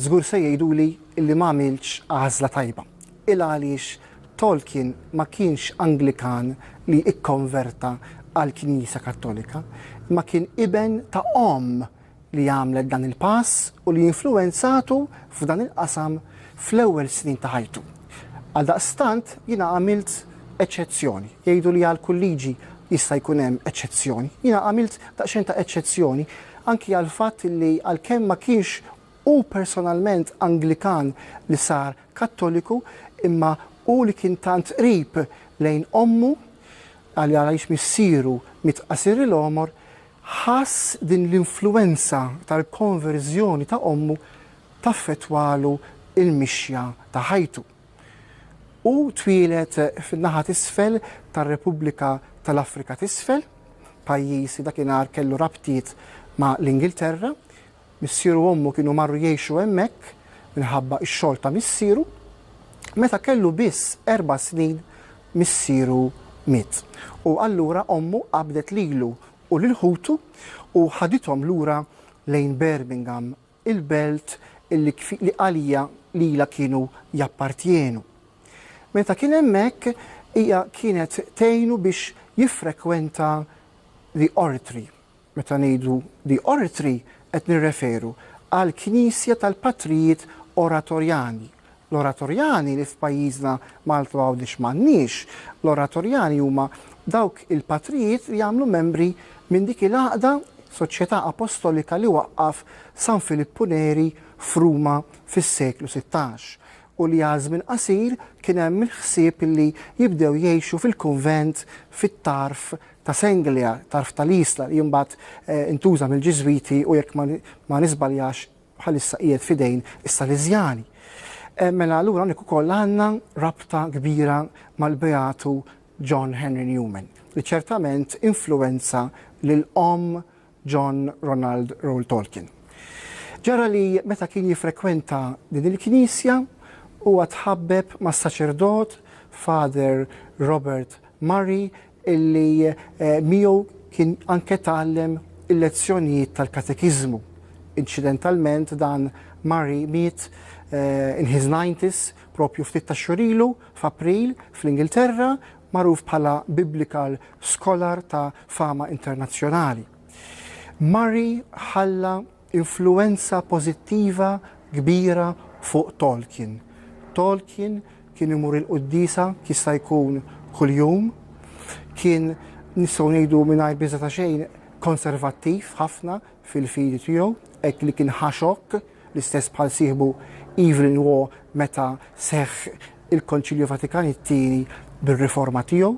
Żgur se jgħiduli li m'għamiltx għażla tajba. Il-għaliex Tolkien ma kienx Anglikan li kkonverta għall-Knisja Kattolika, imma kien iben ta' omm li għamlet dan il-pass u li influwenzatu f'dan il-qasam fl-ewwel snin ta' ħajtu. Għaldaqstant, jiena għamilt eċċezzjoni. Jgħidu li għal kull liġi jista' jkun hemm eċċezzjoni. Jiena għamilt daqsxejn ta' eċċezzjoni anki għall-fatt li għalkemm ma kienx hu personalment Anglikan li sar Kattoliku, imma hu li kien tant qrib lejn ommu, għaliex missieru miet qasir il-għomor, ħass din l-influwenza tal-konverżjoni ta' ommu taffettwalu l-mixja ta' ħajtu. Hu twieled fin-naħa t'isfel tar-Repubblika tal-Afrika t'Isfel, pajjiż li dakinhar kellu rabtiet ma' l-Ingilterra. Missieru u ommu kienu marru jgħixu hemmhekk minħabba x-xogħol ta' missieru. Meta kellu biss erba' snin missieru miet u allura ommu qabdet lilu u lil ħutu u ħadithom lura lejn Birmingham il-belt li għalija lilha kienu jappartjenu. Meta kien hemmhekk, hija kienet tgħinu biex jiffrekwenta The Oratory. Meta ngħidu The Oratory qed nirreferu għall-knisja tal-patrijiet Oratorjani. L-oratorjani li f'pajjiżna Malta u Għawdex m'għandniex. L-oratorjani huma dawk il-patrijiet li jagħmlu membri minn dik il-għaqda, soċjetà apostolika li waqqaf San Filippu Neri f'Ruma fis-seklu sittax u li għal żmien qasir kien hemm il-ħsieb li jibdew jgħixu fil-kunvent fit-tarf ta' Senglia, tarf tal-Isla li mbagħad intuża mill-Ġiżwiti u jekk ma niżbaljax bħalissa qiegħed f'idejn is-Saliżjani. Mela allura hawnhekk ukoll għandna rabta kbira mal-Beatu John Henry Newman, li ċertament influwenza lil omm John Ronald Reuel Tolkien. Ġara li meta kien jiffrekwenta din il-knisja, huwa tħabbeb mas-saċerdot Father Robert Murray illi miegħu kien anke tgħallem il-lezzjonijiet tal-katekiżmu. Inċidentalment dan Murray miet in his nineties proprju ftit tax-xhur ilu f'April fl-Ingilterra, magħruf bħala Biblical Scholar ta' fama internazzjonali. Murray ħalla influwenza pożittiva kbira fuq Tolkien. Tolkien kien imur il-quddiesa jista' jkun kuljum, kien nistgħu ngħidu mingħajr biża' ta' xejn konservattiv ħafna fil-fidi tiegħu, hekk li kien ħa xokk, l-istess bħal sieħbu Evelyn Waugh meta seħħ il-Konċilju Vatikan it-Tieni bir-riforma tiegħu.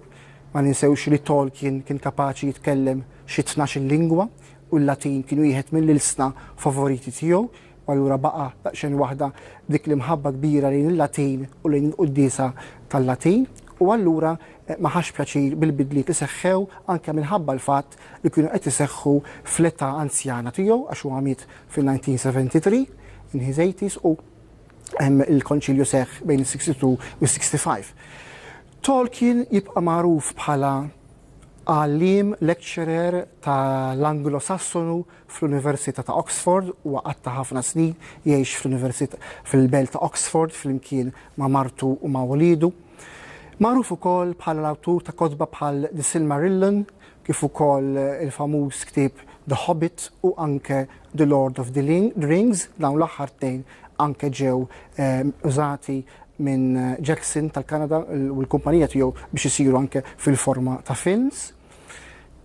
Ma ninsewx li Tolkien kien kapaċi jitkellem xi tnax-il lingwa, u l-Latin kien wieħed mill-ilsna favoriti tiegħu, u allura baqa' daqsxejn waħda dik l-imħabba kbira lejn il-Latin u lejn il-quddiesa tal-Latin, u allura ma ħax pjaċir bil-bidliet li seħħew anke minħabba l-fatt li kienu qed iseħħu fl-età anzjana tiegħu għax huwa miet fil-1973, in his eighties, u l-Konċilju seħħ bejn is-62 u s-65. Tolkien jibqa' magħruf bħala Għalliem lecturer ta' l-Anglosassonu fl-Università ta' Oxford, huwa qatta' ħafna snin jgħix fl-Università fil-belt ta' Oxford flimkien ma' martu u ma' uliedu. Magħruf ukoll bħala l-awtur ta' kotba bħal The Silmarillion kif ukoll il-famuż ktieb The Hobbit u anke The Lord of the Rings, dawn l-aħħar tnejn anke ġew użati minn Jackson tal-Kanada u l-kumpanija tiegħu biex isiru anke fil-forma ta' films.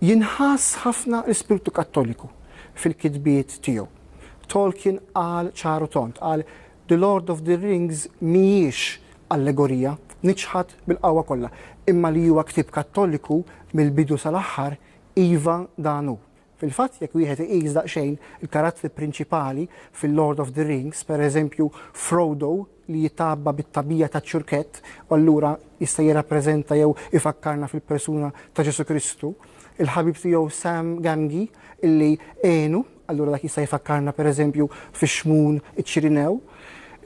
Jinħass ħafna l-ispirtu Kattoliku fil-kitbiet tiegħu. Tolkien qal ċar u tond, qal The Lord of the Rings mhijiex allegorija, niċħad bil-qawwa kollha, imma li huwa ktieb Kattoliku mill-bidu sal-aħħar, iva dan hu. Fil-fatt, jekk wieħed iqis daqsxejn il-karattri prinċipali fil-Lord of the Rings, pereżempju Frodo li jitgħabba bit-tagħbija taċ-ċurkett u allura jista' jirrappreżenta jew ifakkarna fil-persuna ta' Ġesù Kristu, il-ħabib tiegħu Sam Gamgee illi għenu, allura dak jista' jfakkarna pereżempju fix-Xmun iċ-Ċirinew,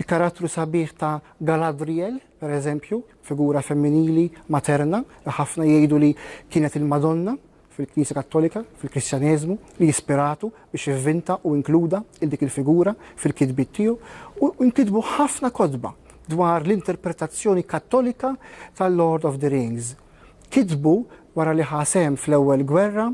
il-karattru sabiħ ta' Galadriel, pereżempju, figura femminili materna li ħafna jgħidu li kienet il-Madonna, fil-Knisja Kattolika, fil-Kristjaneżmu, li jispiratu biex ivvinta u inkluda il dik il-figura fil-kitbiet tiegħu u nkitbu ħafna kotba dwar l-interpretazzjoni Kattolika tal-Lord of the Rings. Kitbu wara li ħasem fl-Ewwel Gwerra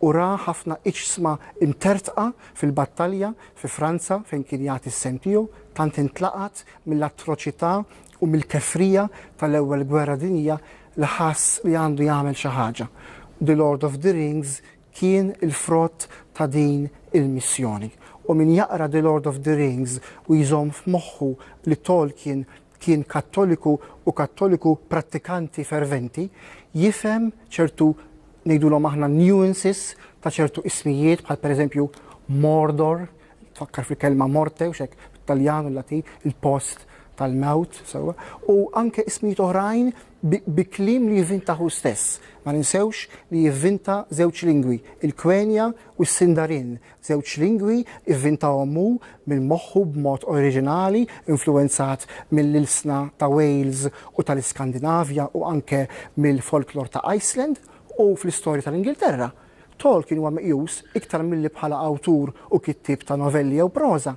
u ra ħafna iġsma imtertqa fil-battalja fi Franza fejn kien jagħti s-sehem tiegħu, tant intlaqat mill-atroċità u mill-kefrija tal-Ewwel Gwerra Dinjija li ħass li għandu jagħmel xi ħaġa. The Lord of the Rings kien il-frott ta' din il-missjoni. U min jaqra The Lord of the Rings u jżomm f'moħħu li Tolkien kien Kattoliku u Kattoliku prattikanti ferventi, jifhem ċertu ngħidulhom aħna nuances ta' ċertu ismijiet bħal pereżempju Mordor, tfakkar fil-kelma morte u xek bit-Taljan u l-Latin, il-post tal-mewt, sewa, u anke ismijiet oħrajn bi kliem li jivvinta hu stess. Ma ninsewx li jivvinta żewġ lingwi, il-Kwenja u s-Sindarin, żewġ lingwi ivvinta ommu minn moħħu b'mod oriġinali, influwenzat mill-ilsna ta' Wales u tal-Iskandinavja u anke mill-folklor ta' Iceland u fl-istorja tal-Ingilterra. Tolkien huwa meqjus, iktar milli bħala awtur u kittieb ta' novelli jew proża,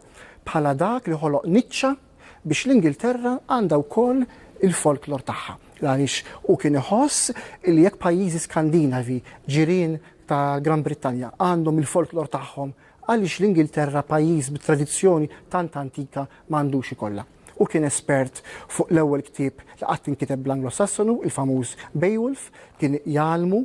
bħala dak li ħoloq niċċa biex l-Ingilterra għandha wkoll il-folklor tagħha, għaliex hu kien iħoss li jekk pajjiżi Skandinavi, ġirien tal-Gran Brittanja, għandhom il-folklor tagħhom, għaliex l-Ingilterra, pajjiż bi tradizzjoni tant antika, ma għandux ikollha. Hu kien espert fuq l-ewwel ktieb li qatt inkiteb bl-Anglo-Sassonu, il-famuż Beowulf. Kien jgħallmu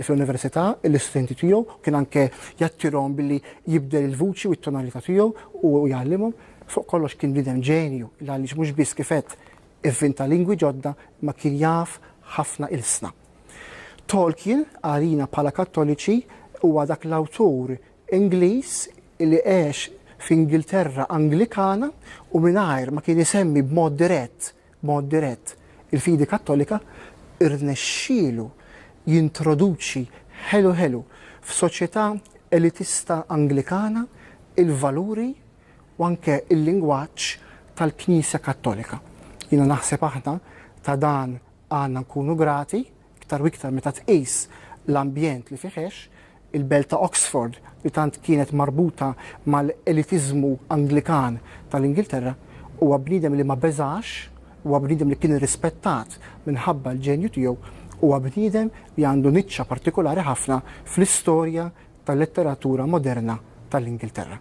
fl-università lill-istudenti tiegħu, kien anke jattirhom billi jibdel il-vuċi u t-tonalità tiegħu u jgħallimhom. Fuq kollox kien bniedem ġenju, għaliex mhux biss kif għedt ivvinta lingwi ġodda, imma kien jaf ħafna ilsna. Tolkien, għalina bħala Kattoliċi, huwa dak l-awtur Ingliż li għex f'Ingilterra Anglikana u mingħajr ma kien isemmi b'mod dirett, b'mod dirett, il-fidi Kattolika, irnexxielu jintroduċi ħelu ħelu f'soċjetà elitista Anglikana l-valuri u anke l-lingwaġġ tal-Knisja Kattolika. Jiena naħseb aħna ta' dan għandna nkunu grati, iktar u iktar meta tqis l-ambjent li fih għex, il-belt ta' Oxford li tant kienet marbuta mal-elitiżmu Anglikan tal-Ingilterra, huwa bniedem li ma beżax, huwa bniedem li kien irrispettat minħabba l-ġenju tiegħu, huwa bniedem li għandu niċċa partikolari ħafna fl-istorja tal-letteratura moderna tal-Ingilterra.